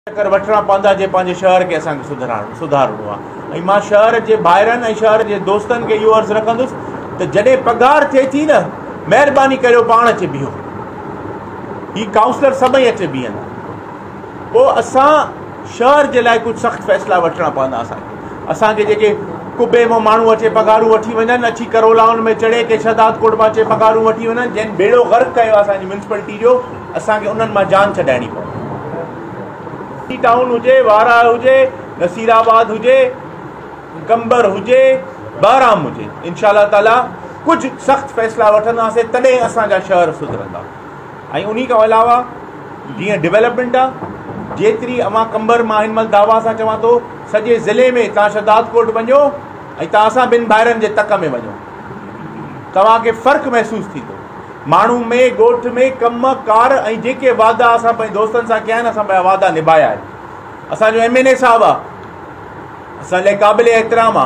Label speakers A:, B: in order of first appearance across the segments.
A: چڪر وٺڻا پوندا جي پنهنجي شهر کي اسان کي سڌرائڻو سڌارڻو آهي ۽ مان شهر جي ڀائرن ۽ شهر جي دوستن کي اهو عرض رکندس ته جڏهن پگهار ٿئي ٿي نه مهرباني ڪريو پاڻ اچي بيهو هي ڪائونسلر سڀئي اچي بيهن پوء اسان شهر جي لاء ڪجهه سخت فيصلا وٺڻا پوندا اسان کي اسان کي جيڪي ڪبي مون ماڻهو اچي پگهارون وٺي وڃن اچي ڪرولائن ۾ چڙهي ڪي شهداد ڪوٽ مان اچي پگهارون وٺي وڃن جن بيڙو غرق ڪيو اسان جي ميونسپلٽي جو اسان کي انهن مان جان ڇڏائڻي پوندي. سي ٽائون هجي، وارهه هجي، نصير آباد هجي، قمبر هجي، بهرام هجي، انشاء الله تعاليٰ ڪجهه سخت فيصلا وٺنداسين تڏهن اسان جا شهر سڌرندا ۽ انهي کان علاوه جيئن ڊولپمينٽ آ جيتري اوهان قمبر مان هن مهل دعويٰ سان چوان ٿو سڄي ضلعي ۾ توهان شهداد ڪوٽ وڃو ۽ توهان اسان ٻن ڀائرن جي تڪ ۾ وڃو توهان کي فرق محسوس ٿيندو. ماڻهو ۾ ڳوٺ ۾ ڪم ڪار ۽ جيڪي وعدا اسان پنهنجي دوستن سان ڪيا آهن اسان پنهنجا وعدا نبايا آهن اسان جو ايم اين اي صاحب آهي اسان لاء قابل احترام آ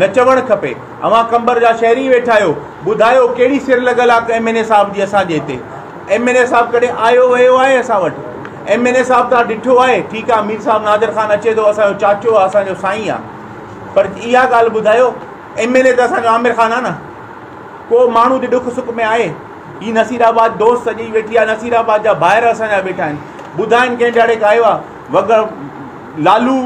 A: نه چوڻ کپي اوهان قمبر جا شهري ويٺا آهيو ٻڌايو کهڙي سر لڳل آ ايم اين اي صاحب جي اسان جي هتي ايم اين اي صاحب ڪڏهن آيو ويو آهي اسان وٽ ايم اين اي صاحب تان ڏٺو آهي ٺيڪ آ مير صاحب نادر خان اچي ٿو اسان جو چاچو آ اسان جو سائين آ پر اها ڳالهه ٻڌايو ايم اين اي ته اسان جو عامر خان آ نه ڪو ماڻهو جي ڏک سک ۾ آهي؟ هي نصير آباد دوست سڄي ويٺي آهي نصير آباد جا ڀائر اسان جا ويٺا آهن ٻڌائن ڪنهن ڏهاڙي کايو آهي وڳ لالو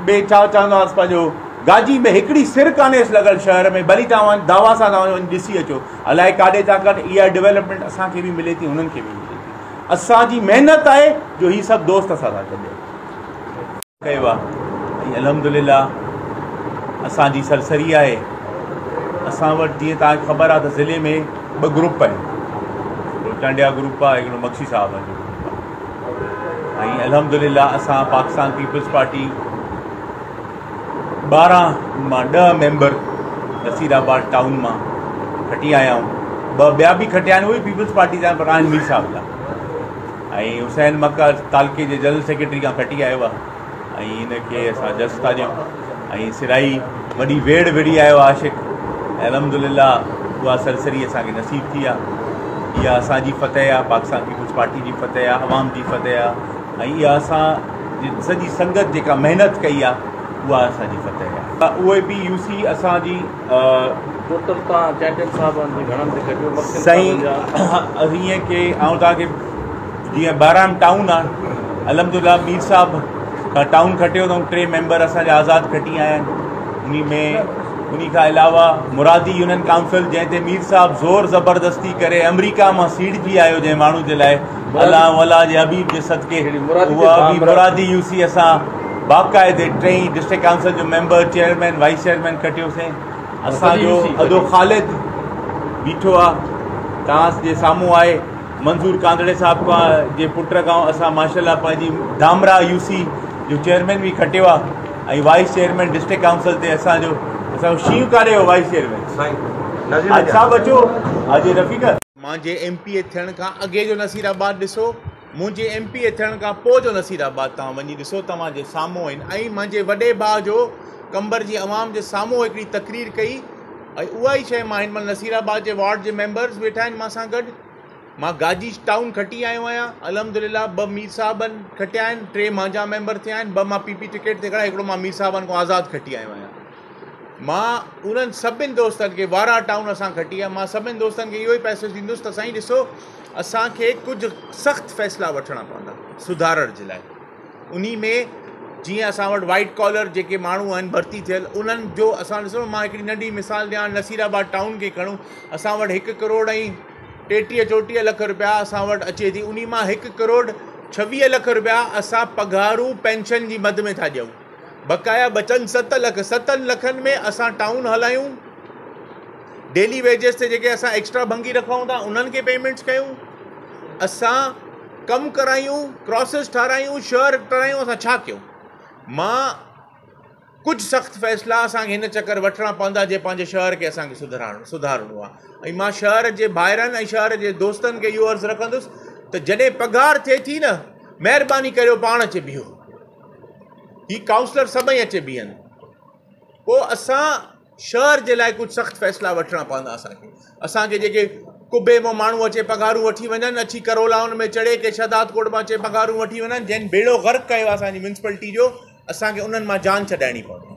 A: ۾ ڇا چوندا هئس پنهنجو گاجي ۾ هڪڙي سر ڪانهيس لڳل شهر ۾ ڀلي توهان دعويٰ سان وڃو وڃي ڏسي اچو الائي ڪاڏي ٿا ڪن اها ڊيولپمينٽ اسان کي به ملي ٿي هنن کي به ملي ٿي اسان جي محنت آهي جو هي سڀ دوست اسان سان گڏ آهن ڪيو آ ۽ الحمدلله اسان جي سرسري آهي اسان وٽ جيئن توهان کي خبر آ ته ضلعي ۾ ٻه گروپ آهن هڪڙو ٽنڊيا گروپ آ هڪڙو مگسي صاحب جو گروپ آ ۽ الحمدلله اسان پاڪستان پيپلز پارٽي ٻارهن مان ڏهه ميمبر نصير آباد ٽائون مان کٽي آيا آهيون ٻه ٻيا به کٽيا آهن اهي پيپلز پارٽي جا پر آهن مير صاحب جا ۽ حسين مڪه تعلقي جي جنرل سيڪريٽري کان کٽي آيو آ ۽ ان کي اسان جس تاڙيون ۽ سرائي وڏي ويڙ وڙي آيو عاشق الحمدلله اها سرسري اسان کي نصيب ٿي آ اها اسان جي فتح آ پاڪستان پيپلز پارٽي جي فتح آ عوام جي فتح آ ۽ اها اسان جي سڄي سنگت جيڪا محنت ڪئي آ اها اسان جي فتح آ اهي به يوسي اسان جي
B: سائين
A: ائين ڪي آئون توهان کي جيئن ٻاراڻ ٽائون آهي الحمدلله مير صاحب کان ٽائون کٽيو اٿئون ٽي ميمبر اسانجا آزاد کٽي آيا آهن انهي ۾ انهي کان علاوه مرادي يونين ڪائونسل جنهن تي مير صاحب زور زبردستي ڪري آمريڪا مان سيڙجي آيو جنهن ماڻهو جي لاء الله الله جي حبيب جي صدقي مرادي يوسي اسان باقاعدي ٽئين ڊسٽرڪٽ ڪائونسل جو ميمبر چيئرمين وائيس چيئرمين ڪٽيوسين اسان جو ادو خالد بيٺو آ تان جي سامهون آهي منظور ڪانڌڙي صاحب کا جي پٽ کان اسان ماشاءالله پنهنجي دامرا يو سي جو چيئرمين به کٽيو آ ۽ وائيس چيئرمين ڊسٽرڪٽ ڪائونسل تي اسان جو اسان جو شيو ڪاري هو وائيس چيئرمين سائين حاج صاحب اچو حاجي Rafiq Manji M P A ٿيڻ کان اڳي جو نصير آباد ڏسو منهنجي ايم پي اي ٿيڻ کان پوء جو نصير آباد توهان وڃي ڏسو توهان جي سامهون آهن ۽ منهنجي وڏي ڀاء جو قمبر جي عوام جي سامهون هڪڙي تقرير ڪئي ۽ اها ئي شيء مان هن مهل نصير آباد جي وارڊ جي ميمبرز ويٺا آهن مان سان گڏ مان گاجي ٽائون کٽي آيو آهيان الحمدلله ٻه مير صاحبن کٽيا آهن ٽي مانجا ميمبر ٿيا آهن ٻه مان پي پي ٽڪيٽ تي کڙا هڪڙو مان مير صاحبن کان آزاد کٽي آيو آهيان مان انهن سڀني دوستن کي وارا ٽائون اسان کٽي آهي مان سڀني دوستن کي اهو ئي پئسو ڏيندس ته سائين ڏسو اسان کي ڪجهه سخت فيصلا وٺڻا پوندا سڌارڻ جي لاء انهي ۾ جيئن اسان وٽ وائيٽ ڪالر جيڪي ماڻهو آهن ڀرتي ٿيل انهن جو اسان ڏسو مان هڪڙي ننڍي مثال ڏيان نصير آباد ٽائون کي کڻو اسان وٽ هڪ ڪروڙ ۽ ٽيٽيهه چوٽيهه لک روپيا اسان وٽ اچي ٿي انهي مان هڪ ڪروڙ ڇويهه لک روپيا اسان پگهارون پينشن جي مد ۾ ٿا ڏيون بقايا بچن ست لک ستن لکن ۾ اسان ٽائون هلايون ڊيلي ويجز تي جيڪي اسان ايڪسٽرا ڀنگي رکائون ٿا انهن کي پيمنٽس ڪيون اسان ڪم ڪرايون ڪراسز ٺارايون شهر ٺارايون اسان ڇا ڪيون ماء ڪجهه سخت فيصلا اسانکي هن چڪر وٺڻا پوندا جي پنهنجي شهر کي اسانکي سڌرائڻ سڌارڻو آهي ۽ ماء شهر جي ڀائرن ۽ شهر جي دوستن کي اهو عرض رکندس ته جڏهن پگهار ٿئي ٿي نه مهرباني ڪريو پاڻ اچي بيهو هي ڪائونسلر سڀئي اچي بيهن پوء اسان شهر جي لاء ڪجهه سخت فيصلا وٺڻا پوندا اسانکي اسانکي جيڪي قبي مون ماڻهو اچي پگهارون وٺي وڃن اچي ڪرولائن ۾ چڙهي ڪي شهداد ڪوٽ مان اچي پگهارون وٺي وڃن جن بيڙو غرق ڪيو اسانجي ميونسپلٽي جو اسانکي انهن مان جان ڇڏائڻي پوندي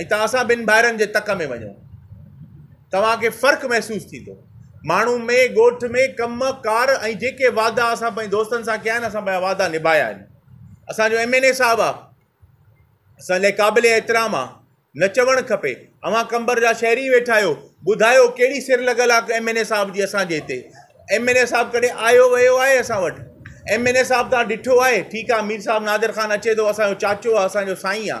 A: ۽ توهان اسان ٻن ڀائرن جي تڪ ۾ وڃو. توهان کي فرق محسوس ٿيندو. ماڻهو ۾، ڳوٺ ۾، ڪم، ڪار ۽ جيڪي وعدا اسان پنهنجي دوستن سان ڪيا آهن، اسان پنهنجا وعدا نڀايا آهن. اسان جو ايم اين اي صاحب آ اسان لاء قابل احترام آ. نه چوڻ کپي. اوهان قمبر جا شهري ويٺا آهيو. ٻڌايو ڪهڙي سر لڳل آ ايم اين اي صاحب جي اسان جي هتي. ايم اين اي صاحب ڪڏهن آيو ويو آهي اسان وٽ. ايم اين اي صاحب توهان ڏٺو آهي. ٺيڪ آ مير صاحب نادر خان اچي ٿو اسان جو چاچو آ اسان جو سائين آ.